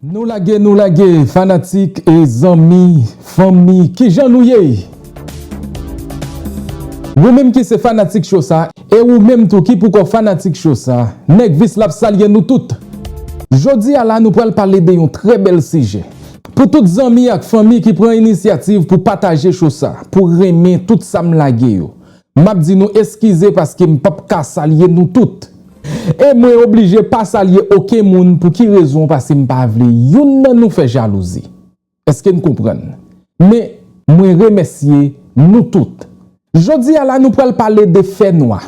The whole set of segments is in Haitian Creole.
Nou lage nou lage fanatik e zanmi fanmi kijan nou ye ou menm ki se fanatik cho sa e ou menm tou ki poukò fanatik cho sa nèg vis la ap salye nou tout jodi a la nou pral pale de yon trè bèl sijè pou tout zanmi ak fanmi ki pran inisyativ pou pataje cho sa pou renmen tout sam lage yo M ap di nou eskize paske m pap ka salye nou tout. E mwen oblije pa salye oken moun pou ki rezon pase m pa vle youn nan nou fè jalouzi. Eske n konprann? Men, mwen remèsye nou tout. Jodi a la nou pral pale de fè nwa.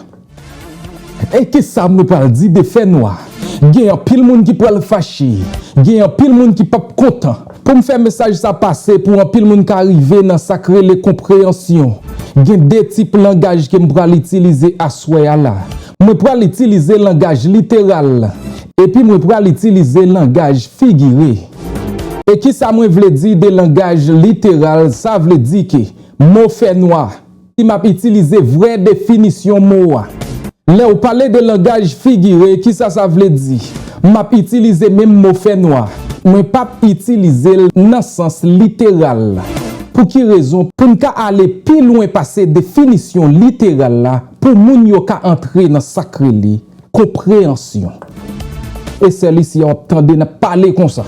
E ki sa nou pral di de fè nwa? Gen anpil moun ki pral fache, gen anpil moun ki pap kontan. Pou m fè mesaj sa pase pou anpil moun ka rive nan sa k rele konpreyansyon, gen de tip langaj ke m pral itilize aswè a la. Mwen pral itilize langaj literal, epi mwen pral itilize langaj figire. E kisa mwen vle di de langaj literal, sa vle di ke mo fènwa, Si m ap itilize vrè definisyon mo a, lè ou pale de langaj figire, ki sa sa vle di? M ap itilize menm mo fènwa, mwen p ap itilize l nan sans literal la. Pou ki rezon? Pou n ka ale pi lwen pase definisyon literal la, pou moun yo ka antre nan sa k rele konpreyansyon. E sèlisi a w ap tande n ap pale konsa.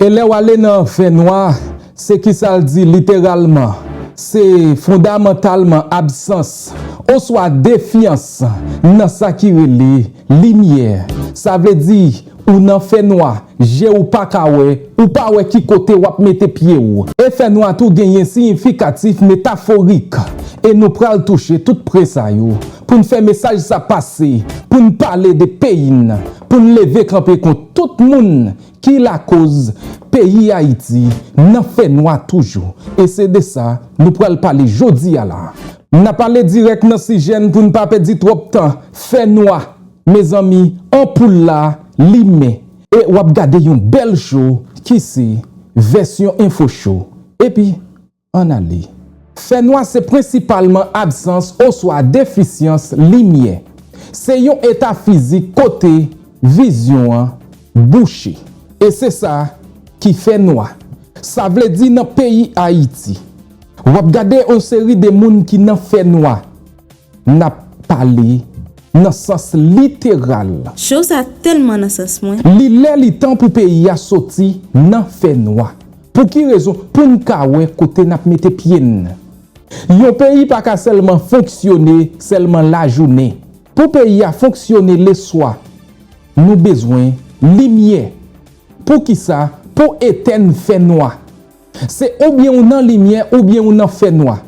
E lè w ale nan fènwa, Se kisa l di literalman, se fondamantalman absans oswa defyans nan sa ki rele limyè. Sa vle di ou nan fènwa, je ou pa ka wè, ou pa wè ki kote w ap mete pye w. E fènwa tou genyen siyifikatif metaforik, e nou pral touche tout pre sa yo pou n fè mesaj sa pase, pou n pale de peyi n, pou n leve kanpe kont tout moun Ki lakoz peyi Ayiti nan fènwa toujou e se de sa nou pral pale jodi a la. N ap ale dirèk nan sijè n pou n pa pèdi twòp tan. Fènwa, mezanmi, anpoul la limen. E w ap gade yon bèl show ki se Vèsyon Info Show. Epi, Ann ale. Fènwa se prensipalman absans oswa defisyans limyè. Se yon eta fizik kote vizyon an bouche. E se sa ki fè nwa. Sa vle di nan peyi Ayiti. W ap gade yon seri de moun ki nan fènwa. N ap pale nan sans literal. Show sa tèlman nan sans mwen. Li lè li tan pou peyi a soti nan fè nwa. Pou ki rezon? Pou n ka wè kote n ap mete pye n. Yon peyi pa ka sèlman fonksyone sèlman lajounen. Pou peyi a fonksyone leswa, nou bezwen limyè. Pou ki sa? Pou etèn fè nwa. Se oubyen ou nan limyè oubyen ou nan fè nwa.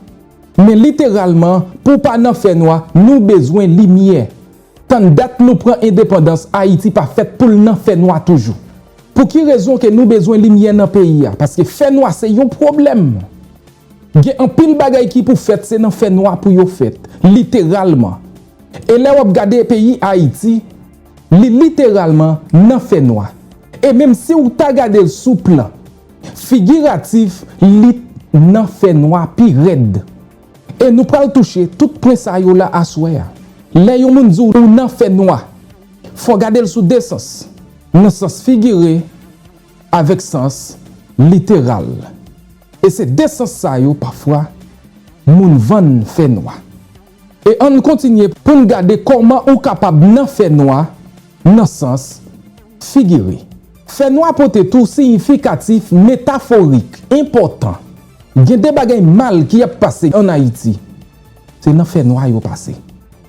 Men literalman, pou pa nan fè nwa, nou bezwen limyè. Tann dat nou pran endepandans, Ayiti pa fèt pou l nan fè nwa toujou. Pou ki rezon ke nou bezwen limyè nan peyi a? Paske fè nwa se yon pwoblèm. Gen anpil bagay ki pou fèt se nan fè nwa pou yo fèt. Literalman. E lè w ap gade peyi Ayiti. Li literalman nan fè nwa. E menm si w ta gade l sou plan figiratif, li t nan fè nwa pi rèd. E nou pral touche tout pwen sa yo la aswè a. Lè yon moun di w ou nan fè nwa, fò w gade l sou de sans, nan sans figire avèk sans literal. E se de sans sa yo pafwa moun vann fè nwa. E ann kontinye pou n gade kòman ou kapab nan fènwa nan sans figire. Fènwa pote tou siyifikatif metaforik enpòtan. Gen de bagay mal ki ap pase ann Ayiti, se nan fènwa yo pase.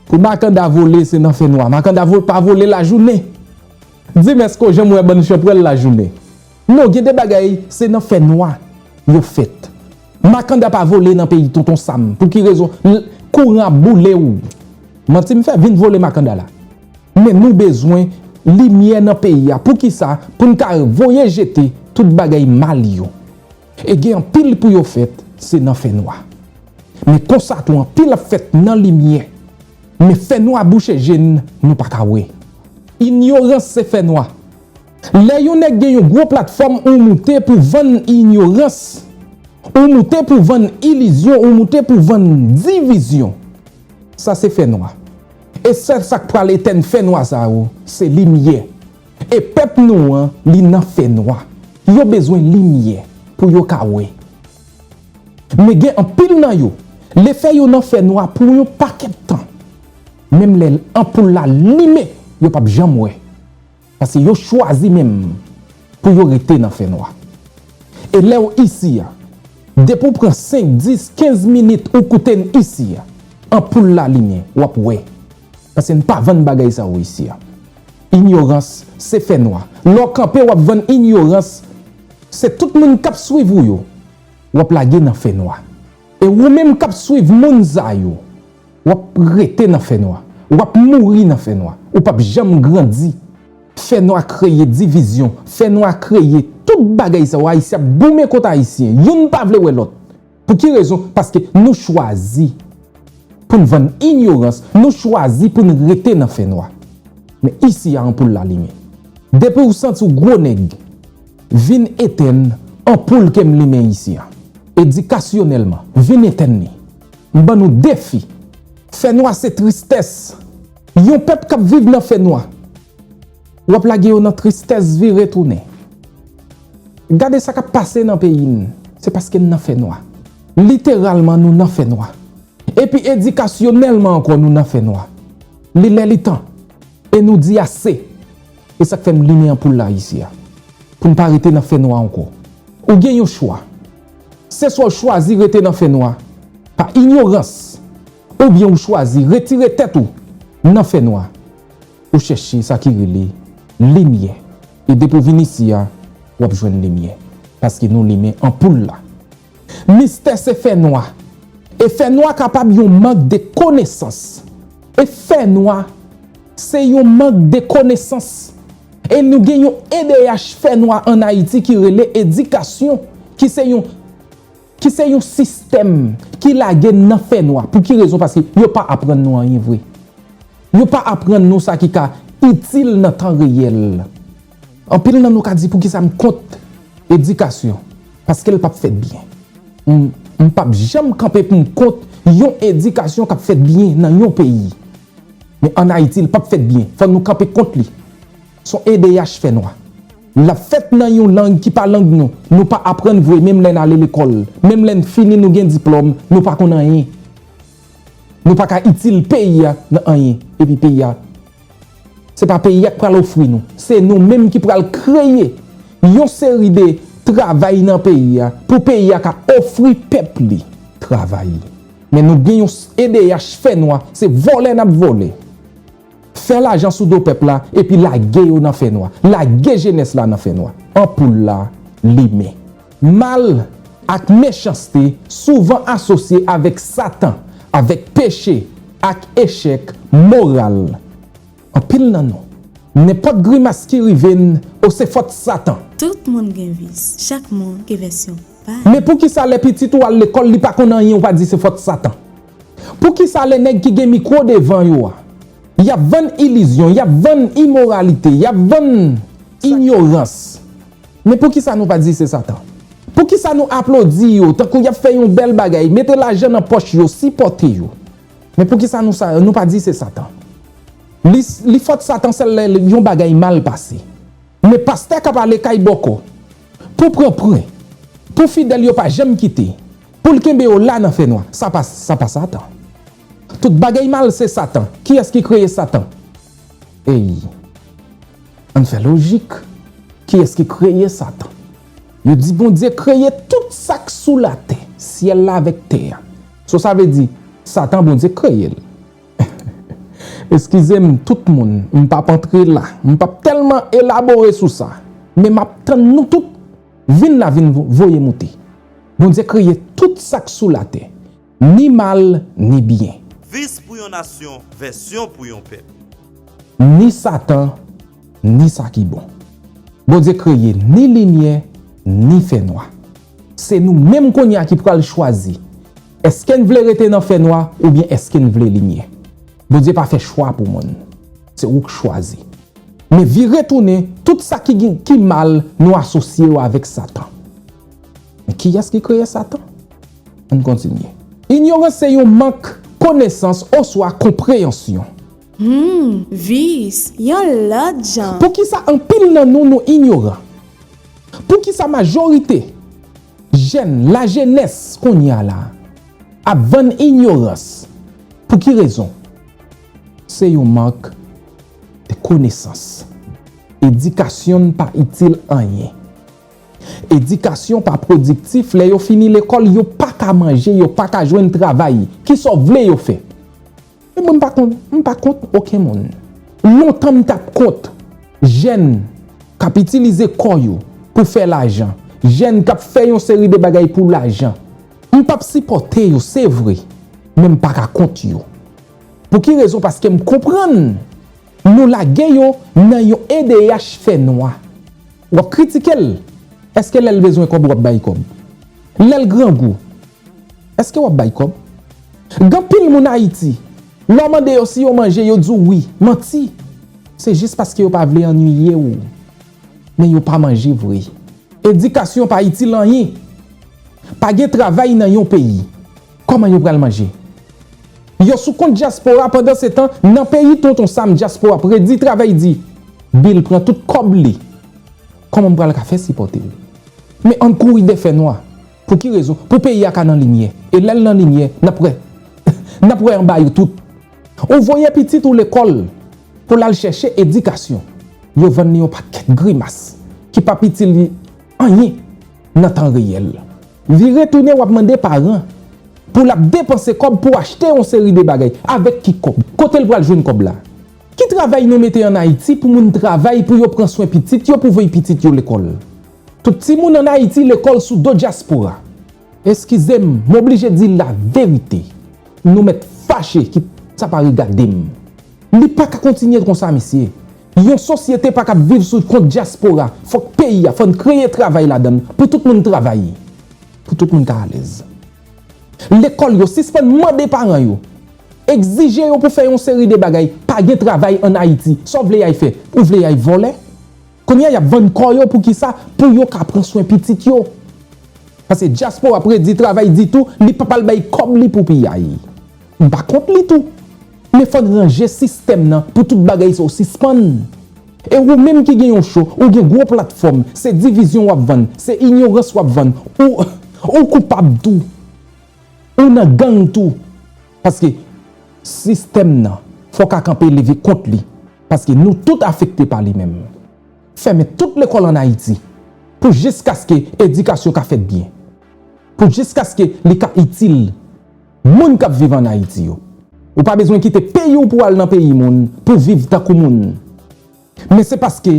Pou Makanda vole, se nan fènwa. Makanda pa vole lajounen. Dimèsko jan m wè bann chanpwèl lajounen. Non gen de bagay se nan fè nwa yo fèt makanda pa vole nan peyi tonton sam pou ki rezon l kouran ap boule w manti m fè vin vole makanda la men nou bezwen limyè nan peyi a pou kisa pou n ka voye jete tout bagay mal yo e gen anpil pou yo fèt se nan fè nwa men konsa tou anpil ap fèt nan limyè men fè nwa bouche je n nou pa ka wè inyorans se fè nwa. Lè yon nèg gen yon gwo platfòm ou moute pou vann inyorans, ou moute pou vann ilizyon, ou moute pou vann divizyon. Sa se fè nwa. E sèl sa k pral etèn fè nwa sa yo, se limyè. E pèp nou an, li nan fè nwa. Yo bezwen limyè pou yo ka wè. Men gen anpil nan yo, lefè yo nan fè nwa pou yon pakèt tan, menm lè anpoul la limen, yo p ap janm wè. Paske yo chwazi menm pou yo rete nan fè nwa. E lè w isi a, depi w pran 5, 10, 15 minit ou koute n isi a, anpoul la limen, w ap wè. Paske n pa vann bagay sa yo isi a. Inyorans se fè nwa. Lè w kanpe w ap vann inyorans, se tout moun k ap swiv ou yo, w ap lage nan fè nwa. E ou menm k ap swiv moun sa yo, W ap rete nan fènwa. W ap mouri nan fènwa. Ou p ap janm grandi. Fènwa kreye divizyon. Fènwa kreye tout bagay sa yo. Ayisyen ap goumen kont Ayisyen. Youn pa vle wè lòt. Pou ki rezon? Paske nou chwazi pou n vann inyorans. Nou chwazi pou n rete nan fènwa. Men isi a anpoul la limen. Depi w santi w gwo nèg, vin etèn anpoul ke m limen isi a. Edikasyonèlman, vin etèn li. M ban nou defi. Fènwa se tristès. Yon pèp k ap viv nan fènwa. W ap lage yo nan tristès vire tounen. Gade sa k ap pase nan peyi n. Se paske n nan fènwa. Literalman nou nan fènwa. Epi edikasyonèlman ankò nou nan fènwa. Li lè li tan. E nou di ase. E sa k fè m limen anpoul la isi a. Pou n pa rete nan fènwa ankò. Ou gen yon chwa. Se swa w chwazi rete nan fènwa pa inyorans oubyen ou chwazi retire tèt ou nan fènwa pou chèche sa ki rele limyè e depi w vin isi a w ap jwenn limyè paske nou limen anpoul la. Mistè se fènwa e fènwa kapab yon mank de konesans e fènwa se yon mank de konesans E nou gen yon edh fè nwa an Ayiti ki rele edikasyon ki se yon ki se yon sistèm ki lage n nan fè nwa. Pou ki rezon? Paske yo pa aprann nou anyen vre. Yo pa aprann nou sa ki ka itil nan tan reyèl. Anpil nan nou ka di poukisa m kont edikasyon. Paske l pap fèt byen. M pap janm kanpe pou m kont yon edikasyon k ap fèt byen nan yon peyi. Men an Ayiti li pap fèt byen. Fò nou kanpe kont li. Son edh fè nwa. Lap fèt nan yon lang ki pa lang nou. Nou pa aprann vre menm lè n ale lekòl. Menm lè n fini nou gen diplòm nou pa konn anyen. Nou pa ka itil peyi a nan anyen. Epi peyi a se pa peyi a k pral ofri nou. Se nou menm ki pral kreye yon seri de travay nan peyi a pou peyi a ka ofri pèp li travay. Men nou gen yon edh fè nwa se vòlè nap vòlè fè lajan sou do pèp la epi lage yo nan fè nwa lage jenès la nan fè nwa anpoul la limen. Mal ak mechanste souvan asosye avèk satan, avèk peche ak echèk moral. Anpil nan nou. Nenpòt grimas ki rive n o se fòt satan. Tout moun gen vis. Chak moun gen vèsyon pa l. Men poukisa lè pitit ou al lekòl li pa konn anyen ou pa di se fòt satan? Poukisa lè nèg ki gen mikwo devan yo a y ap vann ilizyon, y ap vann imoralite, y ap vann inyorans men poukisa nou pa di se satan? Poukisa nou aplodi yo tankou y ap fè yon bèl bagay, mete lajan nan pòch yo, sipòte yo? Men poukisa nou sa nou pa di se satan li li fot satan sel lè yon bagay mal pase men pastè kap ale kay bòkò pou pran pwen pou fidèl yo pa janm kite poul kenbe yo la nan fènwa sa pa sa pa satan tout bagay mal se satan kiyès ki kreye satan eyy ann fè lojik kiyès ki kreye satan yo di Bondye kreye tout sak sou latè syèl la avèk tè a. So sa vle di satan Bondye k kreye l? Eskize m tout moun m pap antre la m pap tèlman elabore sou sa men map tann nou tout vin la vin voye moute Bondye kreye tout sak sou latè ni mal ni byen. Vis pou yon nasyon vèsyon pou yon pèp. Ni satan ni sa ki bon. Bondye kreye ni limyè ni fènwa. Se nou menm kounye a ki pral chwazi, èske n vle rete nan fènwa oubyen èske n vle limyè. Bondye pa fè chwa pou moun. Se ou k chwazi. Men vire tounen, tout sa ki gen ki mal, nou asosye yo avèk Satan. Men kiyès ki kreye Satan? Ann kontinye. Inyorans se yon mank konesans oswa konpreyansyon. Humm, vice, yon lòt jan! Poukisa anpil nan nou nou inyoran? Poukisa majorite jèn lajenès kounye a la ap vann inyorans? Pou ki rezon? Se yon mank de konesans. Edikasyon n pa itil anyen. Edikasyon pa pwodiktif lè yo fini lekòl yo pa ka manje, yo pa ka jwenn travay. Kisa w vle yo fè? E mwen m pa kont, m pa kont oken moun. Lontan m t ap kont jèn k ap itilize kò yo pou fè lajan, jèn k ap fè yon seri de bagay pou lajan. M p ap sipòte yo, se vre, men m pa ka kont yo. Pou ki rezon? Paske m konprann nou lage yo nan yon edh fè nwa. W ap kritike l, èske lè l bezwen kòb w ap bay kòb? Lè l grangou? Eske wap bay kob? Gan pil moun ayiti lè w mande yo si yo manje yo di w wi, manti se jis paske yo pa vle annwiye w men yo pa manje vre. Edikasyon pa itil anyen, pa gen travay nan yon peyi koman yo pral manje? Yo sou kont dyaspora pandan se tan nan peyi tonton sam dyaspora predi travay di bil pran tout kob li koman m pral ka fè sipòte l men ann kouri dè fè nwa. Pou ki rezon? Pou peyi a ka nan limyè. E lè l nan limyè, n ap wè. N ap wè anba yo tout. Ou voye pitit ou lekòl pou l al chèche edikasyon, yo vann li yon pakèt grimas ki p ap itil li anyen nan tan reyèl. Li retounen w ap mande paran pou l ap depanse kòb pou achte yon seri de bagay. Avèk ki kòb? Kote l pral jwenn kòb la? Ki travay nou mete an Ayiti pou moun travay pou yo pran swen pitit yo, pou voye pitit yo lekòl? Tout timoun an Ayiti lekòl sou do dyaspora. Eskize m, m oblije di laverite. Nou mèt fache kit sa pa regade m. Li pa ka kontinye konsa mesye. Yon sosyete pa kab viv sou kont dyaspora. Fòk peyi a, fò n kreye travay ladan l pou tout moun travay. Pou tout moun ka alèz. Lekòl yo sispann mande paran yo, egzije yo pou fè yon seri de bagay. Pa gen travay an Ayiti. Sa w vle y ay fè? Ou vle y ay vòlè? Kounya yap vann kò yo poukisa pou yo ka pran swen pitit yo pase dyaspora predi travay di tou li pap al bay kòb li pou piyay m pa kont li tou men fòn ranje sistèm nan pou tout bagay sa yo sispann e wou menm ki gen yon cho ou gen gwo platfòm se divizyon wap vann se inyorans wap vann ou ou koupab tou ou nan gang tou. Paske sistèm nan fò ka kanpe leve kont li paske nou tout afekte pa li menm. Fèmen tout lekòl an Ayiti pou jiskaske edikasyon ka fèt byen. Pou jiskaske li ka itil moun k ap viv an Ayiti yo. Ou pa bezwen kite peyi w pou al nan peyi moun pou viv tankou moun. Men se paske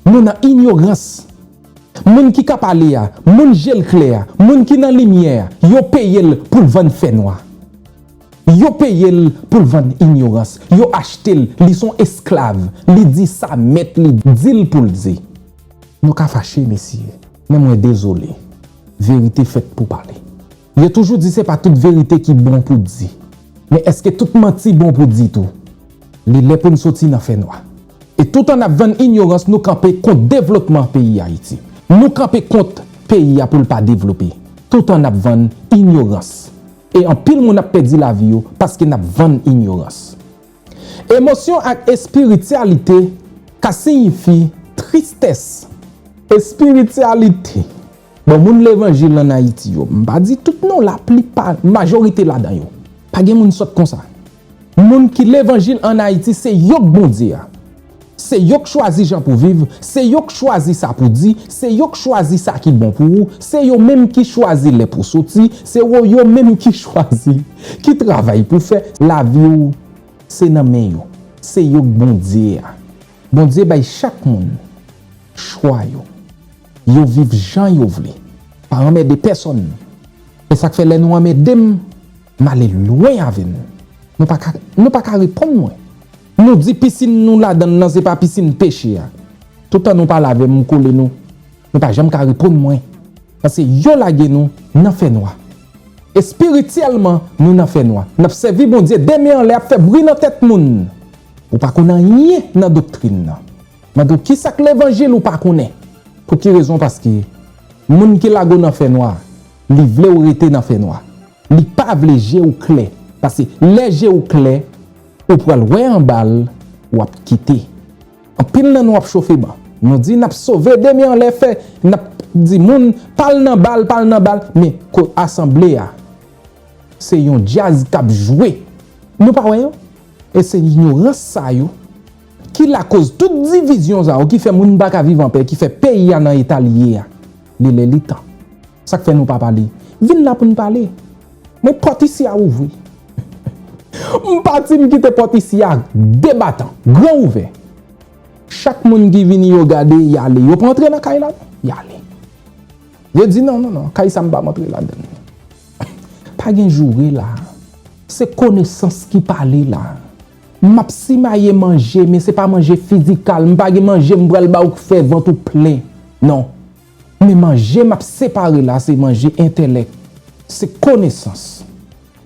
nou nan inyorans. Moun ki ka pale a, moun je l klè a, moun ki nan limyè a, yo peye l pou l vann fè nwa. Yo peye l pou l vann inyorans. Yo achte l, li s on esklav. Li di sa mèt li di l pou l di. Nou ka fache, mesye, men mwen dezole. Verite fèt pou pale. Yo toujou di se pa tout verite ki bon pou di. Men èske tout manti bon pou di tou? Li lè pou n soti nan fènwa. E toutan n ap vann inyorans nou kanpe kont devlotman peyi Ayiti. Nou kanpe kont peyi a pou l pa devlope. Toutan n ap vann inyorans. E anpil moun ap pèdi lavi yo paske n ap vann inyorans. Emosyon ak espirityalite ka siyifi tristès. Espirityalite. Bon moun levanjil an Ayiti yo, m pa di tout non, la pli pa, majorite ladan yo, pa gen moun sòt konsa. Moun ki levanjil an Ayiti se yo k Bondye a. Se yo k chwazi jan pou viv, se yo k chwazi sa pou di, se yo k chwazi sa ki bon pou ou, se yo menm ki chwazi lè pou soti, se wo yo menm ki chwazi ki travay pou fè. Lavi w se nan men yo, se yo k Bondye a. Bondye bay chak moun chwa yo. Yo viv jan yo vle. Pa anmède pèsonn. Se sa k fè lè nou anmède m, m ale lwen avè nou. Nou pa ka, nou pa ka reponn mwen. Nou di pisin nou ladan l lan se pa pisin peche a. Toutan nou pale avè m, m kole nou. Nou pa janm ka reponn mwen. Pase yo lage nou nan fènwa. Espirityèlman, nou nan fènwa. N ap sèvi Bondye de men anlè ap fè bri nan tèt moun. Ou pa konn anyen nan doktrin nan. Mande w kisak levanjil ou pa konnen pou ki rezon paske moun ki lago nan fè nwa li vlew rete nan fè nwa li pa vle je ou klè pase lè je ou klè ou pral wè anbal wap kite anpil nan nou ap chofe ban nou di nap sove de men anlè fè nap di moun pal nan bal pal nan bal men ko asanble a se yon djaz kap jwe nou pa wè yo e se inyorans sa yo. Ki lakoz tout divizyon sa yo ki fè moun pa ka viv anpè, ki fè peyi a nan eta li ye a. Li lè li tan. Sa k fè nou pa pale? Vin la pou n pale. Men pòt isi a ouvri. M pati m kite pòt isi a debatan, gran ouvè. Chak moun ki vini yo gade y ale. Yo pa antre nan kay la non. Y ale. Yo di non, non, non, kay sa m pa antre ladan l. Pa gen joure la. Se konesans ki pale la. Map simaye manje men se pa manje fizikal mpa gen manje mpral ba ou k fè vant ou plen non men manje map separe la se manje entèlèk se konesans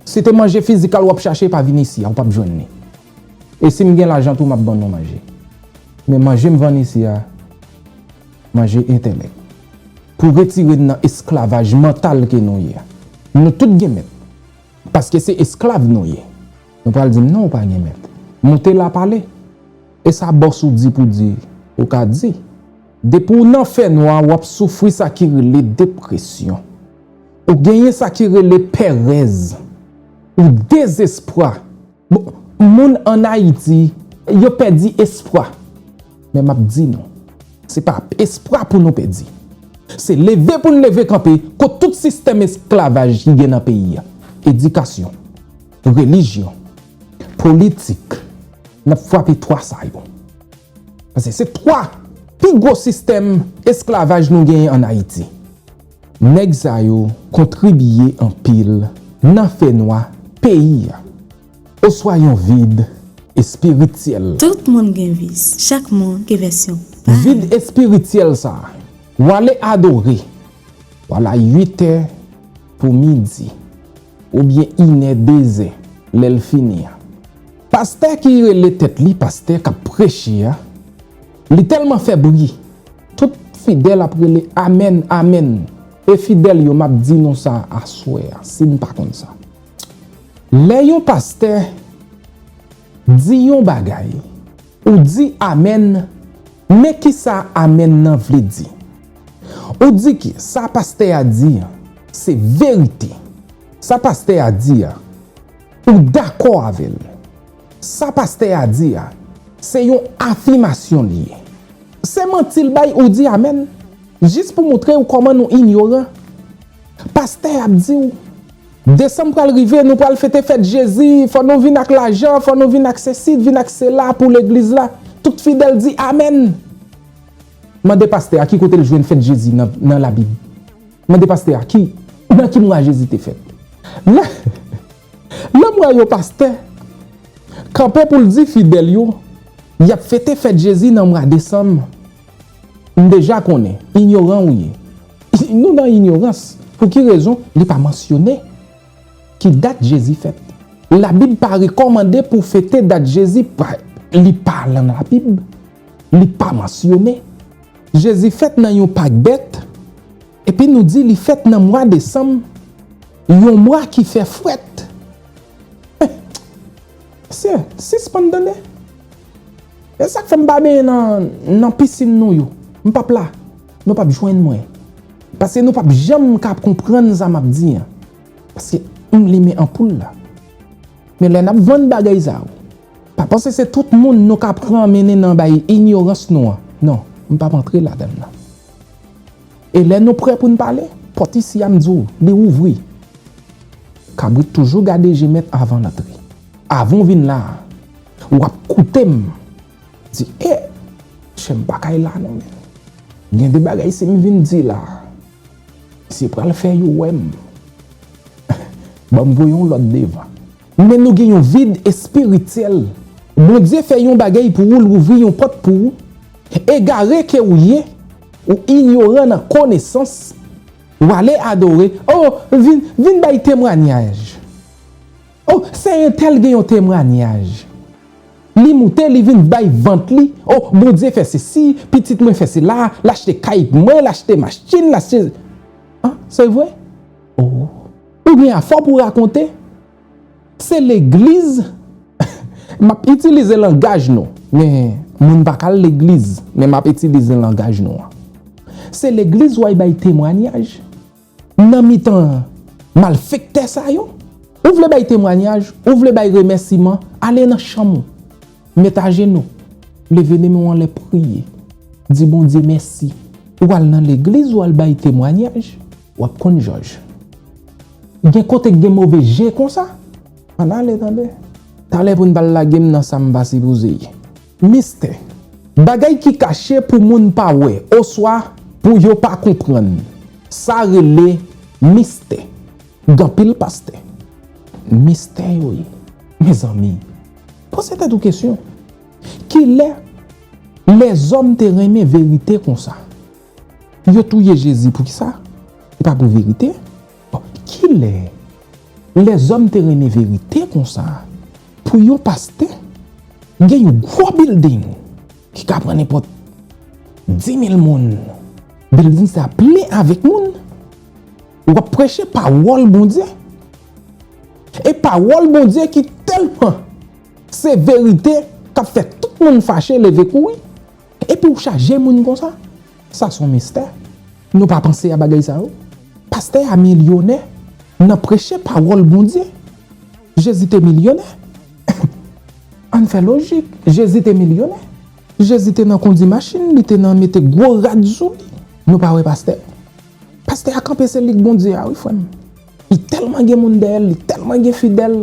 si te manje fizikal wap chache pa vin isi a ou pap jwenn li e sim gen lajan tou map ban nou manje men manje mvann isi a manje entèlèk pou retire n nan esklavaj mantal ke nou ye a nou tout gen mèt paske se esklav nou ye. Ou pral dim non ou pa gen mèt. Moute la pale. Esa boss ou di pou di ou ka di. Depi w nan fè nwa wap soufri sa ki rele depresyon. Ou genyen sa ki rele pèrèz. Ou dezespwa. Bon moun an ayiti yo pèdi espwa. Men map di nou. Se pa espwa pou nou pèdi. Se leve pou n leve kanpe kont tout sistèm esklavaj ki gen nan peyi a. Edikasyon. Relijyon. Politik. N ap fwape 3 sa yo. Pase se 3 pi gwo sistèm esklavaj nou genyen an Ayiti. Nèg sa yo kontribiye anpil nan fè nwa peyi a oswa yon vid espirityèl. Tout moun gen vis. Chak moun gen vèsyon pa l. Vid espirityèl sa a. W ale adore. W al a 8 è pou midi. Ou byen inè dezè lè l fini a. Pastè ki rele tèt li pastè kap preche a li tèlman fè bri tout fidèl ap rele amèn amèn e fidèl yo map di nou sa aswè a si n pa konn sa lè yon pastè di yon bagay ou di amèn Men kisa amen nan vle di. Ou di ke sa pastè a di an se verite. Sa pastè a di a ou dakò avè l. Sa pastè a di a se yon afimasyon li ye. Se manti l bay ou di amen. Jis pou moutre ou kòman nou inyoran. Pastè ap di ou. Desanm pral rive nou pral fete fèt jezi fò nou vin ak lajan fò nou vin ak sesi vin ak sela pou legliz la tout fidèl di amen mande pastè a ki kote l jwenn fèt jezi nan labib mande pastè a ki nan ki mwa jezi te fèt lè lèm wè yon pastè kanpe pou l di fidèl yo yap fete fèt jezi nan mwa desanm. M deja konnen, inyoran ou ye. Nou nan inyorans. Pou ki rezon li pa mansyone ki dat Jezi fèt? Labib pa rekòmande pou fete dat Jezi fèt. Li pa lan Labib. Li pa mansyone. Jezi fèt nan yon pak bèt, epi nou di li fèt nan mwa desanm, yon mwa ki fè frèt. Mesye, sispann tande. E sak fèm pa benyen nan pisin nou yo. M pap la. Nou pap jwenn mwen. Paske nou pap janm ka konprann sa map di an. Paske m limen anpoul la. Men lè nap vann bagay sa yo. Pa panse se tout moun nou ka pran mennen nan bay inyorans nou an. Non, m pap antre ladann nan. E lè nou prè pou n pale, pòt isi a m di w, li ouvri. Kabrit toujou gade je mèt avan l antre. Avan w vin la a, w ap koute m di, E! Chè m pa kay la non men. Gen de bagay si m vin di la a, misye pral fè yo wè m. Ban m voye yon lòt devan. Men nou gen yon vid espirityèl. Bondye fè yon bagay pou ou l ouvri yon pòt pou ou, egare ke ou ye, ou inyoran nan konesans, ou ale adore, oh vin vin bay temwanyaj, oh sè entèl gen yon temwanyaj, li moute li vin bay vant li, oh Bondye fè sesi, pitit mwen fè sela, l achte kay pou mwen, l achte machtin, l achte, ah se vre? oh. Ou gen afè w pou rakonte? Se legliz M ap itilize langaj nou Men moun pa ka al legliz Men m ap itilize langaj nou an Se legliz w al bay temwanyaj Nan mitan malfektè sa yo Ou vle bay temwanyaj Ou vle bay remèsiman Ale nan chanm ou Met ajenou Leve men w anlè priye Di Bondye mèsi Ou al nan legliz w al bay temwanyaj Wap konn jòj. Gen kote k gen move je konsa? Ann ale tande. Talè pou n pral lage m nan sa m pa sipoze ye. Mistè. Bagay ki kache pou moun pa wè oswa pou yo pa konprann. Sa rele mistè. Gen anpil pastè. Mistè yo ye. Mezanmi. Poze tèt ou kesyon. Kilè lèzòm te renmen verite konsa? Yo touye Jezi poukisa? Se pa pou verite? Kilè lèzòm te renmen verite konsa pou yon pastè gen yon gwo bilding ki ka pran nenpòt dimil moun, bilding sa plen avèk moun, w ap preche pawòl Bondye? E pawòl Bondye ki tèlman se verite k ap fè tout moun fache leve kouri? Epi ou chaje moun konsa? Sa son mistè. Nou pa panse a bagay sa yo? Pastè a milyonè nan preche pawòl Bondye. Jezi te milyonè. Ann fè lojik. Jezi te milyonè. Jezi te nan kondi machin, li te nan mete gwo rad sou li. Nou pa wè pastè? Pastè a kanpe se lik Bondye a wi frè m. Li tèlman gen moun dèyè l, li tèlman gen fidèl.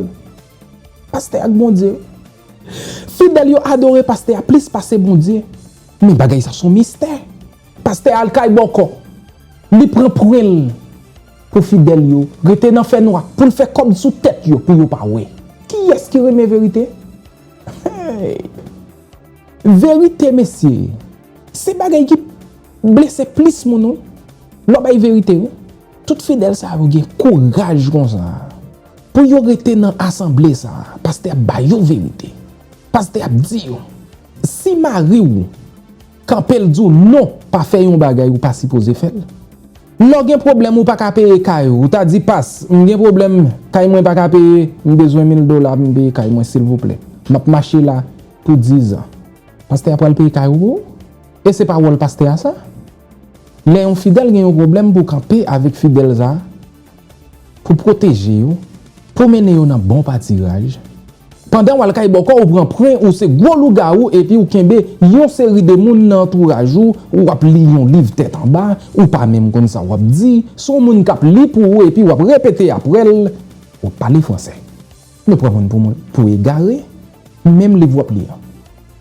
Pastè ak Bondye. Fidèl yo adore pastè a plis pase Bondye. Men bagay sa son mistè. Pastè al kay bòkò. Li pran pwen l pou fidèl yo rete nan fè nwa, pou l fè kòb sou tèt yo pou yo pa wè. Kiyès ki renmen verite? Hey! Verite mesye, se bagay ki blese plis moun wi. Lè w bay verite wi. Tout fidèl sa yo gen kouraj konsa. Pou yo rete nan asanble sa a, pastè ap ba yo verite. Pastè ap di yo, si mari ou kanpe l di w non pa fè yon bagay ou pa sipoze fè l. Lè w gen pwoblèm ou pa ka peye kay ou, ou ta di pas, m gen pwoblèm kay mwen pa ka peye, m bezwen mil dola pou m peye kay mwen silvouplè. M ap mache la pou dizan. Pastè a pral peye kay ou pou ou? E se pa wòl pastè a sa? Lè yon fidèl gen yon pwoblèm pou w kanpe avèk fidèl sa a Pou pwoteje yo, pou mennen yo nan bon patiraj, pandan w al kay bòkò ou pran pwen ou se gwo lougawou epi ou kenbe yon seri de moun nan antouraj ou, ou ap li yon liv tèt anba, ou pa menm konn sa w ap di, son moun k ap li pou ou epi w ap repete aprè l, w ap pale fransè. Nou pran moun pou egare, menm liv w ap li an,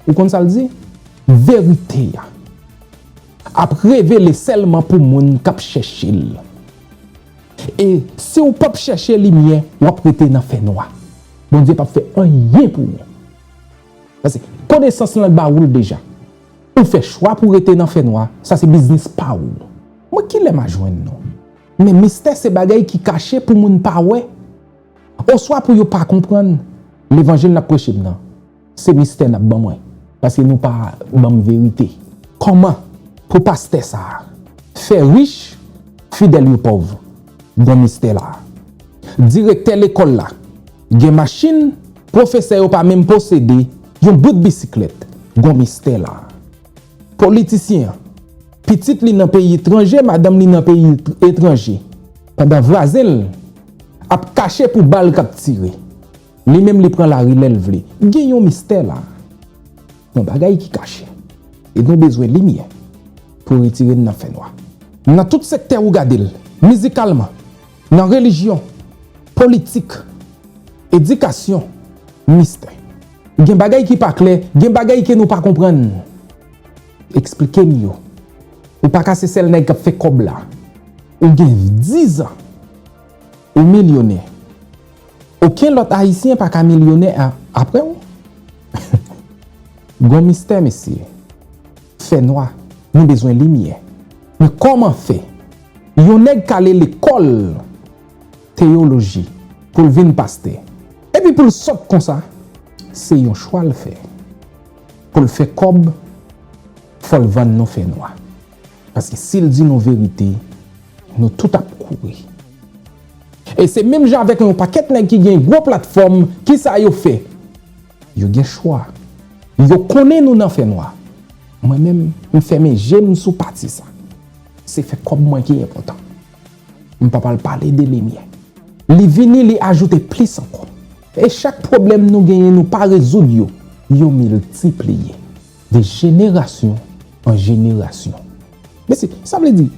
ou konn sa l di? Verite a. Ap revele sèlman pou moun k ap chèche l. E si w pap chèche limyè, w ap rete nan fènwa. Bondye pap fè anyen pou ou. Paske, konesans lan ba ou l deja. Ou fè chwa pou w rete nan fènwa, sa se biznis pa ou. Mwen ki lè m a jwenn nou? Men mistè se bagay ki kache pou moun pa wè, oswa pou yo pa konprann. Levanjil n ap preche m nan, Se mistè nap ban mwen paske nou pa banm verite. Koman pou pastè sa fè rich fidèl yo pòv gon mistè la. Direktè lekòl la gen machin pwofesè yo pa menm posede yon bout bisiklèt gon mistè la. Politisyen an pitit li nan peyi tranje madanm li nan peyi etranje pandan vwazen l ap kache pou bal kap tire. Li menm li pran lari lèl vle. Gen yon mistè la. Yon bagay ki kache. E nou bezwen limyè pou retire n nan fènwa. Nan tout sektè ou gade l, mizikalman, nan relijyon, politik, edikasyon, mistè. Gen bagay ki pa klè, gen bagay ke nou pa konprann. Eksplike m yo. Ou pa ka se sèl nèg k ap fè kòb la. Ou gen dizan. Ou milyonè. Oken lòt ayisyen pa ka milyonè aprè w. Gon mistè mesye. Fè nwa. Nou bezwen limyè. Men kòman fè yon nèg k ale lekòl teyoloji pou l vin pastè epi pou l sòt konsa? Se yon chwa l fè. Pou l fè kòb fò l vann nou fè nwa. Paske sil di nou verite nou tout ap kouri. E se menm jan avèk yon pakèt nèg ki gen gwo platfòm kisa yo fè? Yo gen chwa. Yo konnen nou nan fè nwa. Mwen menm m fèmen jem sou pati sa. Se fè kòb mwen ki enpòtan. M pap al pale de limyè. Li vini li ajoute plis ankò. E chak pwoblèm nou genyen nou pa rezoud yo, yo miltipliye. De jenerasyon an jenerasyon. Mesi. Sa vle di,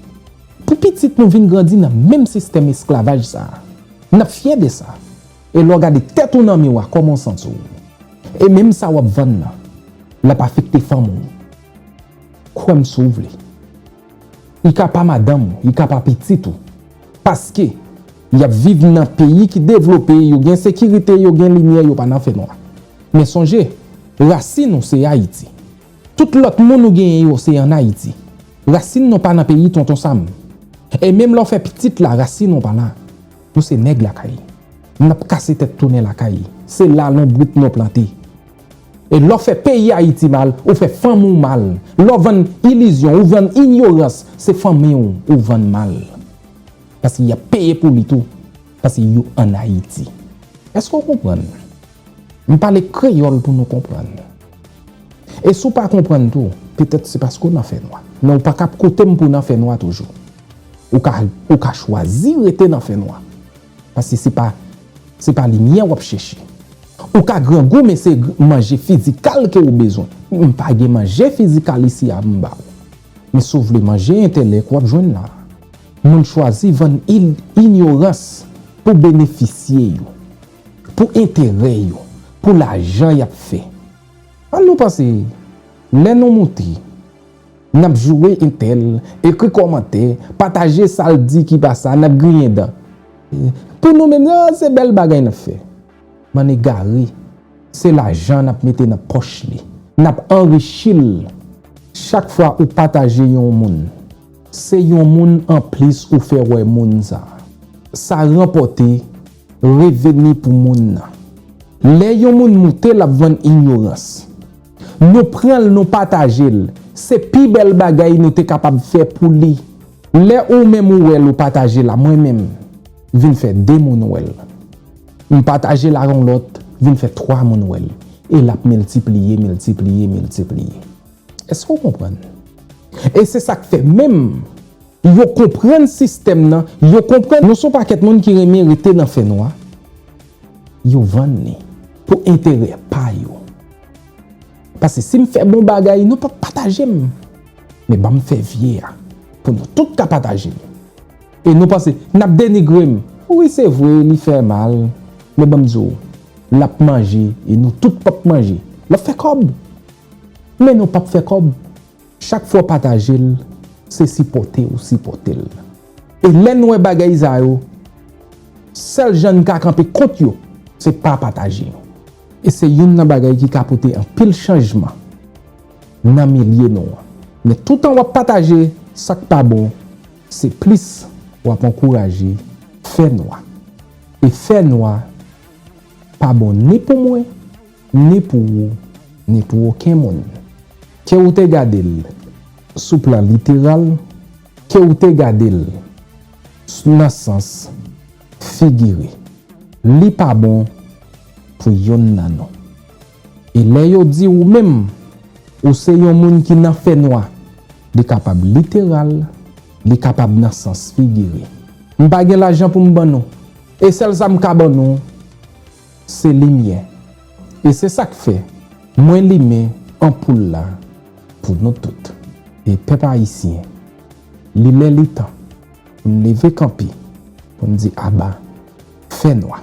pou pitit nou vin grandi nan menm sistèm esklavaj sa a. N ap fyè de sa. E lè w gade tèt ou nan miwa, kòman w santi w? E menm sa w ap vann nan, l ap afekte fanmi w. Kwè m si w vle. Li ka pa madanm ou, li ka pa pitit ou. Paske, y ap viv nan peyi ki devlope, yo gen sekirite, yo gen limyè, yo pa nan fènwa. Men sonje, rasin nou se Ayiti. Tout lòt moun ou genyen yo se an Ayiti. Rasin nou pa nan peyi Tonton Sam. E menm lè w fè pitit la, rasin nou pa la. Nou se nèg lakay. N ap kase tèt tounen lakay. Se la lonbrit nou plante. E lè w fè peyi Ayiti mal, ou fè fanmi w mal. Lè w vann ilizyon, ou vann inyorans, se fanmi w ou vann mal. Paske y ap peye pou li tou, paske yo ann Ayiti. Èske w konprann? M pale kreyòl pou nou konprann. E si w pa konprann tou, petèt se paske w nan fènwa. Men w pa ka ap koute m pou w nan fènwa toujou. Ou ka chwazi rete nan fènwa. Paske se pa se pa limyè wap chèche. Ou ka grangou men se manje fizikal ke ou bezwen. M pa gen manje fizikal isi a m ba ou. Men si w vle manje entèlèk wap jwenn la. Moun chwazi vann inyorans pou benefisye yo, pou enterè yo, pou lajan yap fè. An nou panse lè nou moute. Nap joure intel, ekri komantè, pataje sal di ki pa sa, nap griyen dan. Pou nou menm nan se bel bagay nap fè. Bann egare, se lajan nap mete nan poch li. Nap anrichi l. Chak fwa ou pataje yon moun, se yon moun anplis ou fè wè moun sa. Sa ranpote reveni pou moun nan. Lè yon moun moute lap vann inyorans. Nou pran l nou pataje l. Se pi bèl bagay nou te kapab fè pou li. Lè ou menm ou wè l ou pataje l a mwen menm, vin fè de moun wè l. M pataje l a yon lòt, vin fè twa moun wè l. E l ap miltipliye, miltipliye, miltipliye. Èske ou konprann? E se sa k fè menm. Yo konprann sistèm nan, yo konprann nou son pakèt moun ki renmen rete nan fè nwa, yo vann li pou enterè pa yo. Pase si m fè bon bagay nou pap pataje m, men ban m fè vye a pou nou tout ka pataje m. E nou panse n ap denigre m. Wi se vre li fè mal, men ban m di w l ap manje e nou tout pap manje. L ap fè kòb, men nou pap fè kòb. Chak fwa w pataje l, se sipòte ou sipòte l. E lè n wè bagay sa yo, sèl jan n ka kanpe kont yo, se pa pataje yo. E se youn nan bagay ki ka pote anpil chanjman nan milye nou an. Men toutan w ap pataje sa k pa bon, se plis w ap ankouraje fè nwa. E fè nwa pa bon ni pou mwen, ni pou ou, ni pou oken moun. Ke ou te gade l sou plan literal, ke ou te gade l nan sans figire, li pa bon pou youn nan nou. E lè yo di ou menm, ou se yon moun ki nan fènwa, li kapab literal, li kapab nan sans figire. M pa gen lajan pou m ban nou. E sèl sa m ka ban nou. Se limyè. E se sa k fè mwen limen anpoul la pou nou tout. E pèp ayisyen, li lè li tan pou n leve kanpe pou n di aba fè nwa.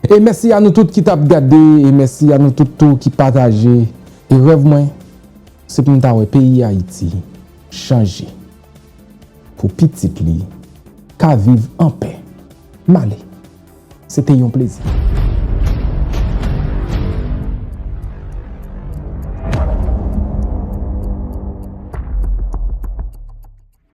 E mèsi a nou tout ki t ap gade e mèsi a nou tout tou ki pataje. E rèv mwen se pou m ta wè peyi Ayiti chanje pou pitit li ka viv anpè. M ale. Se te yon plezi.